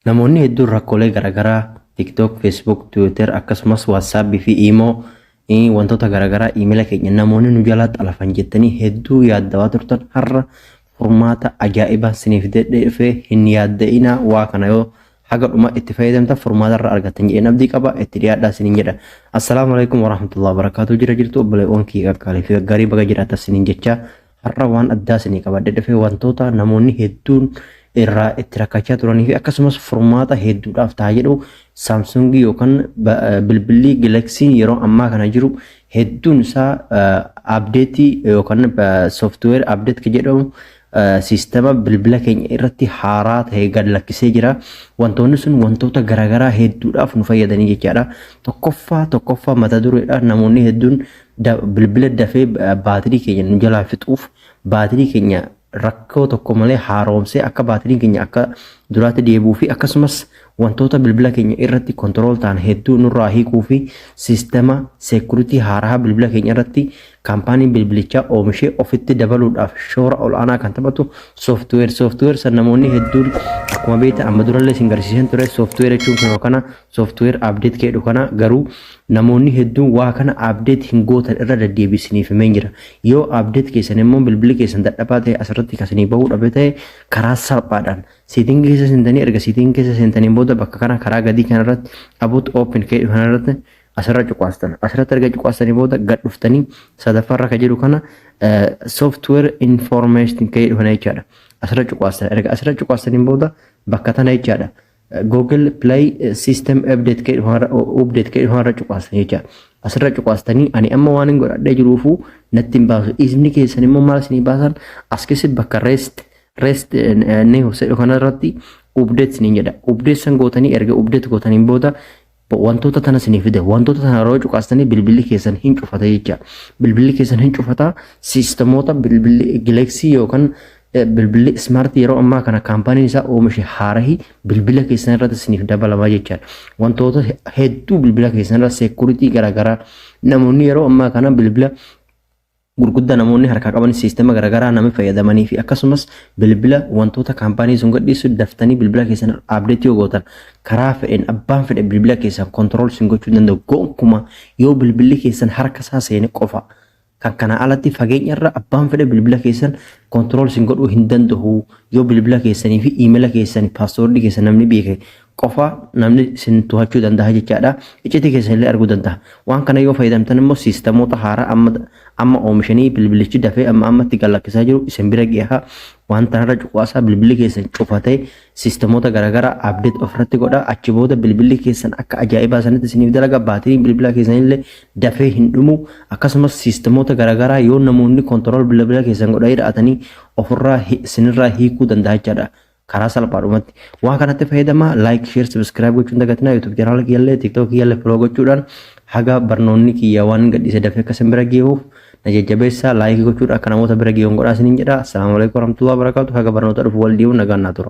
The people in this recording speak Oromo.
Namoonni hedduun rakkoolee garaagaraa TikTok, Facebook, Twitter akkasumas WhatsApp fi Imo wantoota garaagaraa iimila keenya namoonni nu jalaa xalafan jettanii hedduu yaaddawaa turtan har'a furmaata ajaa'ibaa siniif dedheefee hin yaadda'inaa waa kana yoo haga dhuma itti fayyadamtan furmaata irra argattan jedheen abdii qaba itti dhiyaadhaa sinin jedha. Assalaamu alaikum warahmatullahi wabarakatuh jira jirtu obboleewwan kiyya qaqqaalee fi gaggaarii baga jiraattan sinin jecha Har'a waan addaa isinii qabadhe dhufee wantoota namoonni hedduun irraa itti rakkachaa turanii fi akkasumas furmaata hedduudhaaf ta'a jedhu saamsungii yookaan bilbilli gilaksiin yeroo ammaa kana jiru hedduun isaa abdeetii yookaan sooftiweer abdeet kan jedhamu siistema bilbila keenya irratti haaraa ta'e gad lakkisee jira. Wantoonni sun wantoota garaagaraa hedduudhaaf nu fayyadanii jechaadha. Tokkoffaa tokkoffaa mata dureedha namoonni hedduun Bilbila dafee baatirii keenya nu jalaa fixuuf baatirii keenya rakkoo tokko malee haaromsee akka baatiriin keenya akka duraatti deebi'uu fi akkasumas wantoota bilbila keenya irratti kontirool ta'an hedduu nurraa hiikuu fi siistema seekuritii haaraa bilbila keenya irratti kaampaaniin bilbilichaa oomishee ofitti dabaluudhaaf shoora ol'aanaa kan taphatu sooftiweer sooftiweer san namoonni hedduun akkuma beektan amma durallee isin garsiisan ture sooftiweer jechuun kun kana Software update keedhu kana garuu namoonni hedduun waa kana update hin gootan irra deddeebii isiniif himeen jira. Yoo update keessan immoo bilbilli keessan dadhabaa ta'e asirratti kan isinii bahuu dhabe ta'e karaa salphaadhaan setting keessa seentanii erga setting keessa seentaniin booda bakka kana karaa gadii kana irratti about open keedhu kana irratti asirra cuqaastan asirratti erga cuqaastanii booda gad dhuftanii sadaffaa irra kan jiru kana software information keedhu kana jechaadha. Asirra cuqaastan erga asirra cuqaastaniin booda bakka tana jechaadha. Google Play System Update kee dhufaarra update kee dhufaarra cuqaastan jecha asirra cuqaastanii ani amma waan hin godhadhee jiruufu natti hin baasu isni keessan immoo maal isinii baasan as keessatti bakka rest rest news jedhu kanarratti update isiniin jedha update san gootanii erga update gootaniin booda Wantoota tana isinii fide wantoota tana yeroo cuqaastanii bilbilli keessan hin cufata jecha bilbilli keessan hin cufata siistemoota bilbilli gileeksii yookaan bilbilli ismaartii yeroo ammaa kana kaampaaniin isaa oomishe haarahi bilbila keessan irratti isiniif dabalama jechaan wantoota hedduu bilbila keessan irra seekuritii garaagaraa namoonni yeroo ammaa kana bilbila gurguddaa namoonni harkaa qaban siistema garaagaraa namni fayyadamanii fi akkasumas bilbila wantoota kaampaanii sun gadhiisu daftanii bilbila keessan abdeetti yoo gootan karaa fedheen abbaan fedhe bilbila keessan kontirool sin gochuu danda'u gonkumaa yoo bilbilli keessan harka isaa seene qofa kan kanaa alatti fageenya irra abbaan fedhe bilbila keessan kontirool sin godhuu hin danda'u yoo bilbila keessanii fi iimela keessanii paaswoordii keessan namni beeke qofa namni sin tohachuu dandaha jechaadha. Iccitii keessan illee arguu dandaha. Waan kana yoo fayyadamtan immoo siistamoota haaraa amma amma oomishanii bilbilichi dafee amma ammatti gallakkisaa jiru isin bira geeha. Waan tanarra cuqaasaa bilbilli keessan cufatee siistamoota garaagaraa abdeet ofirratti godha. Achi booda bilbilli keessan akka ajaa'ibaa sanitti isiniif dalaga. Baatiriin bilbilaa keessan illee dafee hin dhumu. Akkasumas siistamoota garaagaraa yoo namoonni kontirool bilbila keessan godhanii dha'atanii ofirraa isinirraa hiikuu dandaha jechaadha. karaa salphaadhumatti waa kanatti fayyadamaa laayik sheer sabiskiraayib gochuun dagatinaa yuutuub chaanaala kiyyallee tiiktookii kiyyallee foloo gochuudhaan haga barnoonni kiyya waan gadhiise dafee akka isin bira geehuuf na jajjabeessaa laayikii gochuudhaan akka namoota bira geehuun godhaa isiniin jedha assalaamu alaikum warahmatullahi wabarakaatu haga barnoota dhufu wal dhiibu nagaan naa tura.